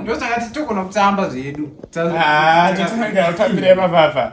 ndotakati togona kutamba zvedu ah, totambira ipapapa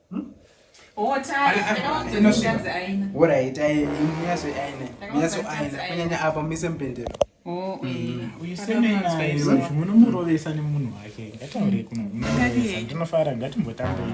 kunyanya apa muise mupendero oh, eh, mm. usemunovesa nemunhu wake ngataure kuno ndinofara ngatimbotambei